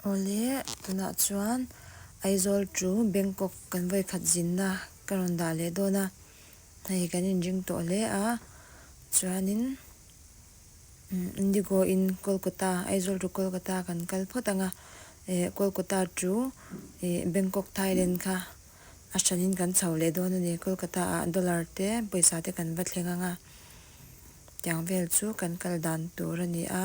Awle, tunah chuan Aizawl ṭu Bangkok kan vawi khat zinna ka rawn dah leh dawn a, hei kan inring tawh hle a, chuanin Indigo in Kolkata, Aizawl ṭu Kolkata kan kal phawt anga, eh, Kolkata ṭu eh Bangkok Thailand kha a ṭhanin kan chho leh dawn a ni, Kolkata ah dollar te pawisa te kan va thleng anga, tiang vel chu kan kal dan tur a ni a,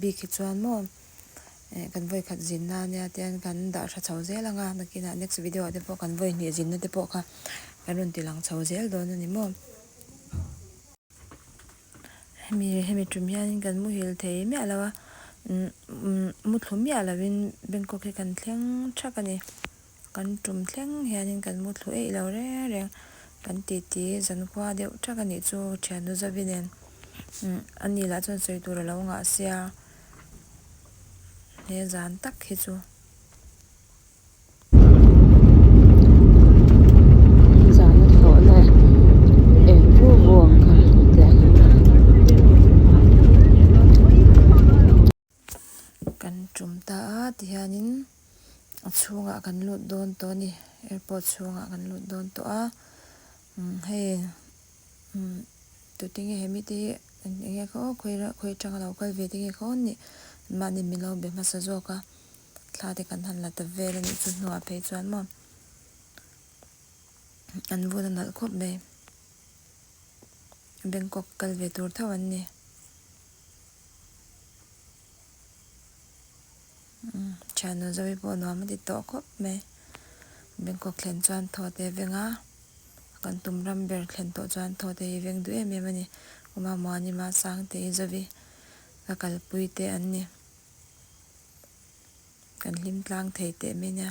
Bik hi chuan maw eh kan vawi khat zin na ania te an kan dah tha chho zel ang a nakin ah next video ah te pawh kan vawi hnih zin na te pawh kha kan rawn ti lang chho zel dawn ani maw hemi hemi ṭum hian kan muhil thei miah lo a umm umm muthlu miah lo in Bangkok hi kan thleng ṭhak ani. Kan tum thleng hianin kan mu thlu eih lo reng reng kan titi zankhua deuh ṭhak a nih chu Ṭhiannu Zavi nen ani lah chuan sawi tur a lo ngah sia. He zan tak hi chu. Kan tum ta a tihianin a chhungah kan lut dawn tawh a ni airport chhungah kan lut dawn tawh a umm hei umm tute nge he mite hi enge ka aww khawi khawi atanga lo kal ve te nge ka aww nih mahni min lo be hmasa zawk a thla te kan han la ta vel a nih chu hnua phei chuan maw an vun a nalh khawp mai Bangkok kal ve tur tho an ni. Thiannu Zoe pawh nuam a ti tawh khawp mai. Bangkok thlen chuan thaw teh veng a, kan tum ram ber thlen tawh chuan thaw teh hi veng duh em em a ni. Kuma, Muanima, Sangte, Zoe ka kalpui te an ni. Kan hlimtlang thei teh mai nia.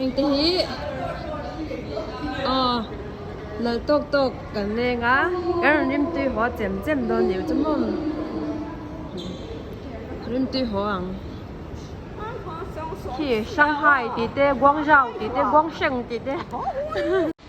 Heng te hi aw lal tawk tawk kan leng a, kan rawn rim tui haw a chem chem dawn leh chu mawm. Rim tui haw ang. Khi Shanghai tih te, Guangzhou tih te, Guangsheng tih te.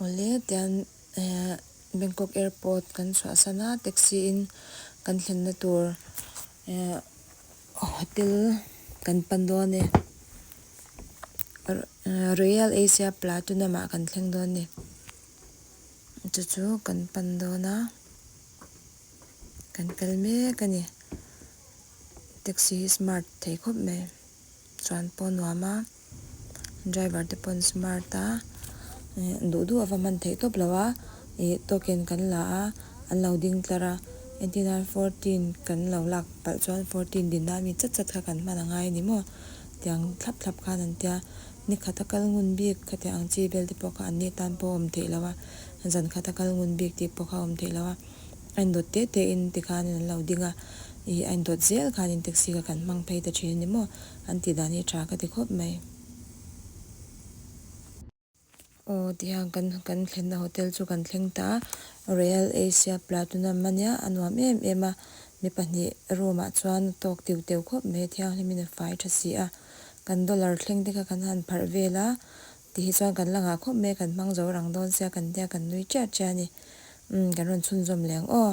Awle, tian Bangkok Airport kan chhuah san a, taxi in kan thlenna tur hotel kan pan dawn a ni. Royal Asia Platinum ah kan thleng dawn a ni. Chu chu kan pan dawn a, kan kal mek a ni. Taxi hi smart thei khawp mai. Chuan pawh nuam a, driver te pawh an smart a, duh duh ava man theih tawp lo a, ih token kan la a, an lo ding tlar a, entir nan fourteen kan lo lak palh chuan fourteen din nan mi chat chat kha kan hman angai a ni maw tiang thlap thlap khan an tia, ni khat a kal ngun bik kha tiang ang chi bel te pawh kha an ni tan pawh a awm theih lo a, zan khat a kal ngun bik tih pawh kha a awm theih lo a. A indawt teh teh in tikhanin an lo ding a, ih a indawt zel khanin taxi kha kan hmang phei ta thin a ni maw? An tih dan hi tha ka ti khawp mai. Aw tihian kan kan thlenna hotel chu kan thleng ta a, Real Asia Platunam a nia, a nuam em em a, mi pahnih room ah chuan talk teuh teuh khawp mai a, thianghlim in a fai tha si a, kan dollar thleng te kha kan han pharh vel a, Ti hi chuan kan la ngah khawp mai kan hmang zo rang dawn sia kan tia kan nui ṭiah ṭiah a ni. Umm kan rawn chhunzawm leng aw.